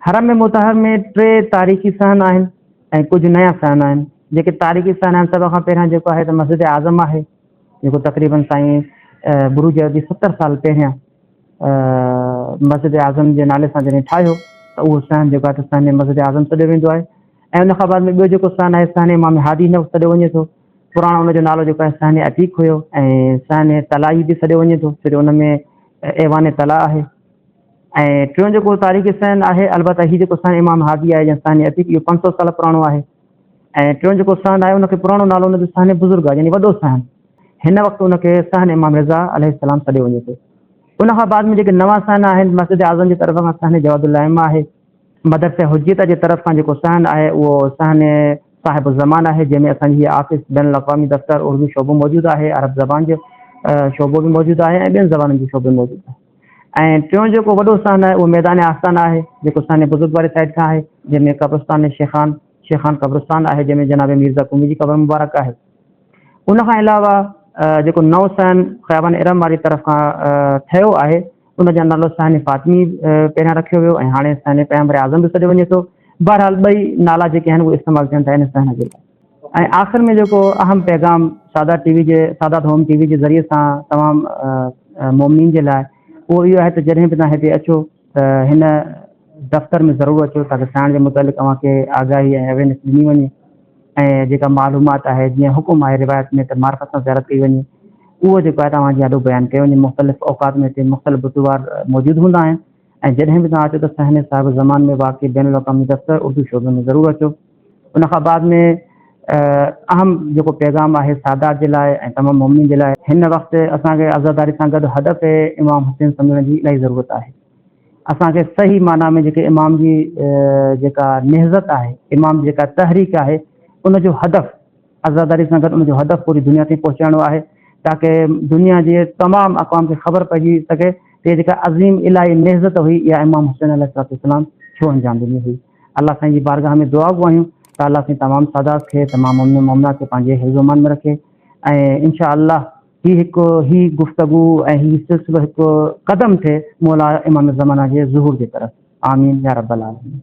حرم مطهر ۾ ٽي تاريخي صحن آهن ۽ ڪجهه نيا صحن آهن جيڪي تاريخي صحن آهن سڀ کان پهريان جيڪو آهي ته مسجد اعظم آهي جيڪو تقريبن سائين بروجي ابي ستر سال پهريان مسجد اعظم جي نالي سان جڏهن ٺاهيو ته اهو صحن جيڪو آهي ته صحن مسجد اعظم سڏيو ويندو آهي ۽ ان کان بعد ۾ ٻيو جيڪو صحن آهي صحن امام هادي نو سڏيو وڃي ٿو پراڻو ان جو نالو جيڪو آهي صحن عتيق هيو ۽ صحن تلائي به سڏيو وڃي ٿو ڇو جو ان ۾ ايوان تلا آهي ۽ ٽيون جيڪو تاريخ سين آهي البته هي جيڪو سين امام هادي آهي يا سين عتيق اهو پنج سؤ سال پراڻو آهي ۽ ٽيون جيڪو سين آهي ان کي پراڻو نالو ان جو سين بزرگ آهي يعني وڏو سين هن وقت ان کي سين امام رضا عليه السلام سڏيو وڃي ٿو ان کان بعد ۾ جيڪي نوان سين آهن مسجد اعظم جي طرف کان سين جواد الائمه آهي مدرسه حجيت جي طرف کان جيڪو سين آهي اهو سين صاحب الزمان آهي جنهن ۾ اسان جي آفيس بين الاقوامي دفتر اردو شعبو موجود آهي عرب زبان جو شعبو به موجود آهي ۽ ٻين زبانن جو شعبو موجود آهي ۽ ٽيون جيڪو وڏو استان آهي اهو ميدان آستان آهي جيڪو سانحي بزرگ واري سائيڊ کان آهي جنهن ۾ قبرستان شيخان، شيخان قبرستان، آهي جنهن ۾ جناب ميرزا قومي جي قبر مبارڪ آهي. ان کان علاوه جيڪو نئون سائن خيابان ارم واري طرف کان ٺهيو آهي ان جو نالو سانحي فاطمي پهريان رکيو ويو ۽ هاڻي سانحي پيغمبر اعظم به سڏيو وڃي ٿو. بهرحال ٻئي نالا جيڪي آهن اهي استعمال ٿين ٿا ان سانحي جي لاء. ۽ آخر ۾ جيڪو اهم پيغام سادات ٽي وي جي سادات هوم ٽي وي جي ذريعي سان تمام مومنين جي لاء اهو اهو آهي ته جڏهن به توهان هتي اچو ته هن دفتر ۾ ضرور اچو تاڪه سائڻ جي متعلق اوهان کي آگاهي ۽ اويرنس ڏني وڃي ۽ جيڪا معلومات آهي جيئن حڪم آهي روايت ۾ ته معرفت سان زيارت ڪئي وڃي اهو جيڪو آهي توهان جي آڏو بيان ڪيو وڃي مختلف اوقات ۾ هتي مختلف بزرگوار موجود هوندا آهن ۽ جڏهن به توهان اچو ته سهني صاحب زمان ۾ واقع بين الاقوامي دفتر اردو شعبي ۾ ضرور اچو. ان کان بعد ۾ اهم جيڪو پيغام آهي سادات جي لاء ۽ تمام مؤمنين جي لاء. هن وقت اسان کي عزاداري سان گڏ هڏ پي امام حسين سمجهڻ جي الاهي ضرورت آهي. اسان کي صحيح معنيٰ ۾ جيڪي امام جي جيڪا نهضت آهي، امام جي جيڪا تحريڪ آهي، ان جو هدف، عزاداري سان گڏ ان جو هدف پوري دنيا تائين پهچائڻو آهي تاڪه دنيا جي تمام اقوام کي خبر پئجي سگهي ته هيء جيڪا عظيم الاهي نهضت هئي اها امام حسين عليه الصلوة والسلام ڇو انجام ڏني هئي. الله سائين جي بارگاهه ۾ دعا گهون آهيون ته الله سائين تمام سادات کي تمام مؤمنين مؤمنات کي پنهنجي حفظ و امان ۾ رکي ۽ ان شاء الله هي هڪ هي گفتگو ۽ هي سلسلو هڪ قدم ٿئي مولا امام زمانه جي ظهور جي طرف آمين يارب العالمين.